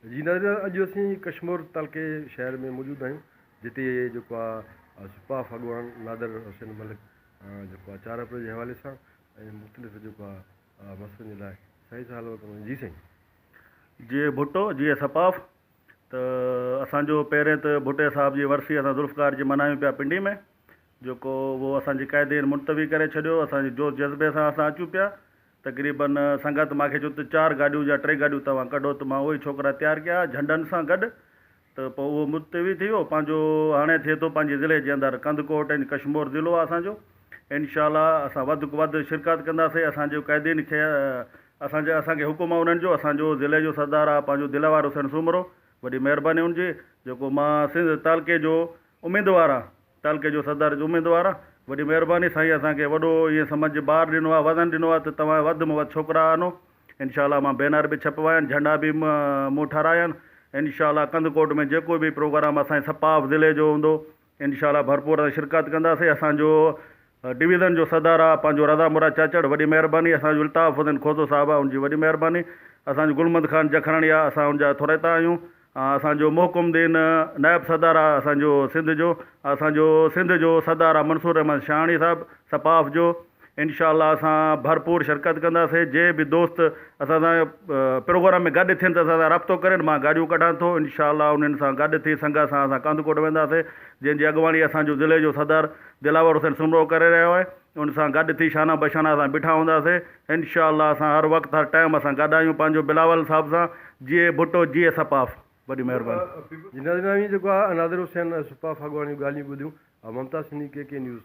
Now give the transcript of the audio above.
جي ناظرين اڄ اسين ڪشمور تعلقي شهر ۾ موجود آهيون جتي جيڪو آهي سپاهه اڳواڻ نادر حسين ملڪ جيڪو آهي چار اپريل جي حوالي سان ۽ مختلف جيڪو آهي مسئلن جي لاء سائين سان حلوت ڪندو جي سائين جي ڀٽو جي سپاهه ته اسان جو پهرين ته ڀٽي صاحب جي ورسي اسان ذوالفقار جي منايون پيا پنڊي ۾ جيڪو هو اسان جي قيد هيٺ ملتوي ڪري ڇڏيو. اسان جي جوش جذبي سان اسان اچون پيا. تقريبن سنگت مانکي چيو ته چار گاڏيون يا ٽي گاڏيون توهان ڪڍو ته مان اهي ڇوڪرا تيار ڪيا جهنڊن سان گڏ ته پوء اهو ملتوي ٿي ويو پنهنجو هاڻي ٿئي ٿو پنهنجي ضلعي جي اندر ڪنڌڪوٽ ۽ ڪشمور ضلعو آهي اسان جو انشاء الله اسان وڌ کان وڌ شرڪت ڪنداسين اسان جي قيدين کي اسان جي اسان کي حڪم آهي انهن جو اسان جو ضلعي جو سردار آهي پنهنجو دلوار حسين سومرو وڏي مهرباني هن جي جيڪو مان سنڌ تعلقي جو اميدوار آهيان. تعلقي جو صدر جو اميدوار آ. وڏي مهرباني سائين اسان کي وڏو ائين سمجھ جي بار ڏنو آ وزن ڏنو آ ته توهان وڌ م وڌ ڇوڪرا آنو انشاء الله مان بينر به ڇپوايا آهن جهنڊا به مون ٺارايا آهن انشاء الله ڪنڌڪوٽ ۾ جيڪو به پروگرام اسان جي سپاف ضلعي جو هوندو انشاء الله ڀرپور شرڪت ڪنداسين اسان جو ڊويزن جو صدر آ پنهنجو رضا مراد چاچڙ وڏي مهرباني اسان جو الطاف حسين کوسو صاحب آ ان جي وڏي مهرباني اسان جو گلمند خان جکراڻي آ اسان ان جا ٿورائتا آهيون اسان جو محڪم الدين نائب صدر آ اسان جو سنڌ جو اسان جو سنڌ جو صدر آ منصور رحمان شاهاڻي صاحب سپاف جو انشاء الله اسان ڀرپور شرڪت ڪنداسين جي به دوست اسان سان پروگرام ۾ گڏ ٿين ته اسان سان رابطو ڪرين مان گاڏيون ڪڍان ٿو انشاء الله انهن سان گڏ ٿي سنگت سان اسان ڪنڌڪوٽ وينداسين جنهن جي اڳواڻي اسان جو ضلعي جو صدر دلاور حسين سومرو ڪري رهيو آهي ان سان گڏ ٿي شانه بشانه اسان بيٺا هوندا سي انشاء الله اسان هر وقت هر ٽائيم اسان گڏ آهيون پنهنجو بلاول صاحب سان جيئي ڀٽو جيئي سپاف وڏي مهرباني. جي ناظرين اوهين جيڪو آ ناظر حسين سپاف اڳواڻ جون ڳالهيون ٻڌيون آ ممتاز سنڌي ڪي ڪي نيوز.